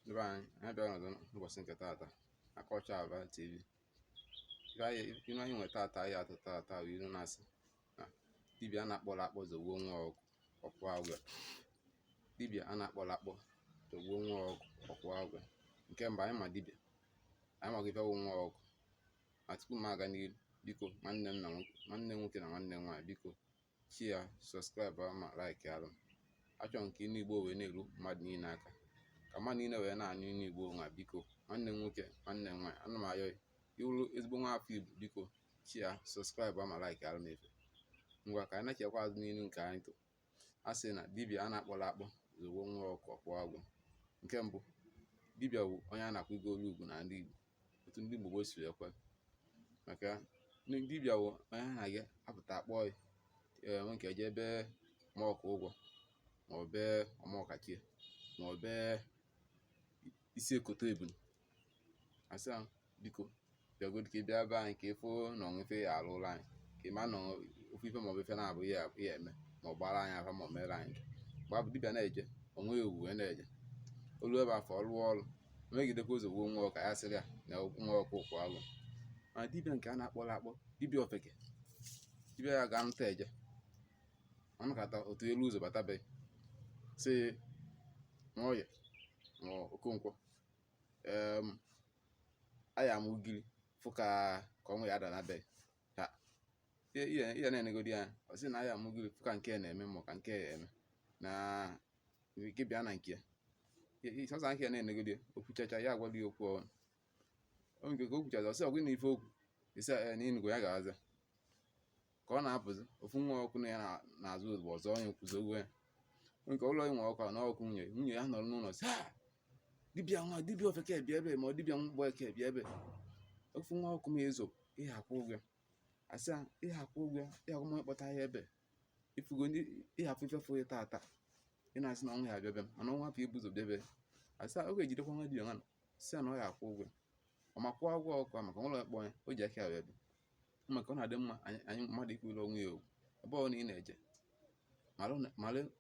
Ndịbe anyị, anyị bịara ọzọ n'ụbọchị nke taata na Culture Aba TV. Inu anyị inu anyị nwere taata anyị atụ taata bụ ilu na-asị na dibịa a na-akpọrọ akpọ zọgbuo nwa ọkụ ọ kwụa ụgwọ. Dibịa a na-akpọrọ akpọ zọgbuo nwa ọkụ ọ kwụa ụgwọ. Nke mbụ anyị ma dibịa, anyị maghị ife wụ nwa ọkụ. Ma tupu m aga n'ihu, biko nwanne m na nwoke nwanne m nwoke na nwanne m nwaanyị biko share subscribe ma like alụ m achọ m ka inu igbo wee na-eru mmadụ niile aka ka mmadụ niile wee na-anụ inu igbo nwa biko nwanne m nwoke nwanne m nwaanyị ana m ayọ ị wụrụ ezigbo nwa afọ igbo biko share subscribe ma like alụ m efe ngwa ka anyị nachikwa azụ n'ilu nke anyị tụ a sị na dibịa a na-akpọrọ akpọ zọgbuo nwa ọkụ ọ kwụa ụgwọ nke mbụ dibịa bụ onye a na-akwanyelu ugwu na ndị igbo otu ndị Igbo si ekwe maka dibịa wụ onye a na-aga apụta akpọ ya nwoke eje be ma ọkụ ụgwọ ma ọ be ọmọkachie ma ọ be isi ekoto ebunu asị ahụ biko bịagodi ka ị bịa be anyị ka ị fụ na o nwe ife ya alụla anyị ka ị ma na ofu ife maọbụ ife nabọ ya ya eme ma ọ gbara anyị afa ma ọ mere anyị mgbe afụ dibịa na-eje onwe ewu wee na-eje ọlụ ebe afụ ọ lụọ ọrụ megidekwa ọ zọgbuo nwa ọkụ ya sịrị ya na nwa ọkụ ọ kwụa ụgwọ ma dibịa nke a na-akpọrọ akpọ dibịa ofeke dibịa ya ga nta eje ọ nọkata otu elu ụzọ bata be gị sị nwoye ma okonkwo em aya m ugiri fụ ka ka ọnwụ ya-ada na be ha ị ya ị ya- ị ya na-enegodi anya ọ sị na aya m ugiri fụ ka nke a na-eme ma ka nke a eme na nwere ike bịa na nke sọsọ ahụ ya na-enegide o kwuchacha ya agwala ya okwu ọnụ o nke ka o kwuchacha ọ sị ọ gwụ na ife o kwu ị sị ya na ị nụgo ya ga-aza ka ọ na-apụzi ofu nwa ọkụ na ya na-azụ ozugbo ọ zọnye ụkwụ zọgbuo ya nke ụlọ nwe ọkụ na ọkụ nwunye nwunye ya nọrọ n'ụlọ sị dibịa nwa dibịa ofeke bịa ebe ma ọ dibịa mgbeke bịa ebe ofu nwa ọkụ m ị zọ ị ya-akwụ ụgwọ a sị ya ị ya-akwụ ụgwọ ị ya-akwụ onye kpọta ya ebe ị fụgo ị ya-afụ ife fụ ya taata ị na-asị na ọnwụ ya-abịa be a mana ọnwụ afụ ebu ụzọ bịa be a a sị ọ ga-ejidekwa nwa dibịa sị ya na ọ ya-akwụ ụgwọ ọ ma kwụọ ụgwọ ọkụ maka nwerọ onye kpọ ya o ji aka ya bịa maka ọ na-adị mma anyị mmadụ ịkwanyere onwe ya ugwu ebe ọwụna ị na-eje malụ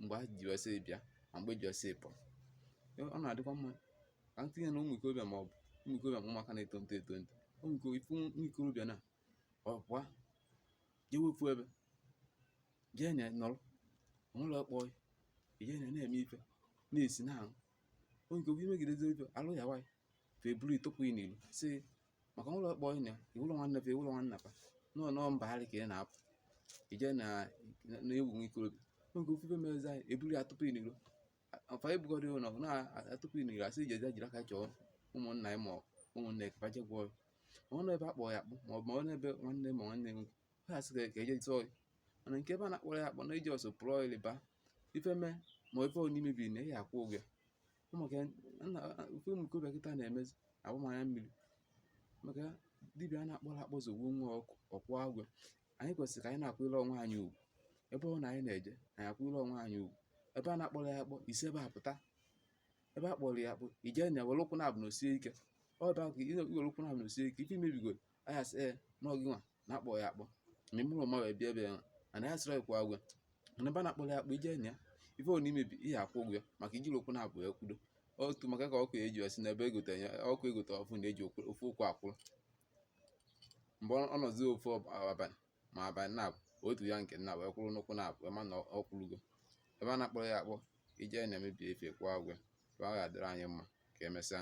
mgbe e ji wee si bịa ma mgbe e ji wee si pụọ ọ na-adịkwa mma ka m tinye na ụmụ ikorobịa ma ọ bụ ụmụ ikorobịa ma ụmụaka na-etonite etonite ụmụ ikorobịa na ọ pụọ jewe ofu ebe jee na nọrọ onwere ọkpọ ije na na-eme ife na-esi na ahụ onye nke ihe megidezi ife alụ ya nwaanyị fa buru ị tụpụ ị n'ilo sị maka onwere ọkpọ ị na iwụlọ nwanne fa iwụlọ nwanna fa nọọ nọọ mba harị ka ị na-apụ ije na na-ewu nwa ikorobịa onye nke ofu ife merezi anyị eburu ya tụpụ ị n'ilo afa ebugọrị ụlọ na-atụpụ ị n'ilo asị ije jee jiri aka chọọ ụmụnna ya ma ụmụnna ya ka fa je gwọọ ọ nọ ebe a kpọọ ya akpọ ma ọ bụ ọ nọ ebe nwanne ma nwanne nwoke ha sị ka eje tụọ ya mana nke ebe a na-akpọrọ ya akpọ na iji ọsọ pụrụ ọyịrị ba ife mee ma ife onye mebiri na ị ya-akwụ ụgwọ ya maka ife ụmụ ikorobịa kịta na-emezi agba m anya mmiri maka dibịa a na-akpọrọ akpọ zọgbuo nwa ọ kwụọ ụgwọ anyị kwesịrị ka anyị na-akwụrụ onwe anyị ugwu ebe ọ na anyị na-eje anyị akwụrụ onwe anyị ugwu ebe a na-akpọrọ ya akpọ isi ebe a pụta ebe a kpọrọ ya akpọ ije na were ụkwụ naabọ nọsie ike ọ ebe ahụ ka iwere ụkwụ naabọ nọsie ike ife imebigoro a ya-asị ee na ọ gị nwa na-akpọ ya akpọ ma ịmara ụma wee bịa ebe ya ana ya sịrị kwụọ ụgwọ mana ebe a na-akpọrọ ya akpọ ije na ya ife ọ n'imebi ị ya-akwụ ụgwọ ya maka ijiri ụkwụ naabọ ya kwudo otu maka ka ọkụ eji ya si n'ebe egote ya ọkụ egote ọfụụ na-eji ofu ụkwụ akwụrụ mgbe ọ nọzi ofu abalị ma abalị naabọ otu ya nke nna wee kwụrụ n'ụkwụ naabọ ị ma na ọ kwụrụgo ebe a na-akpọrọ ya akpọ ije na-emebi ife kwụọ ụgwọ ebe a ga-adịrị anyị mma ka emesịa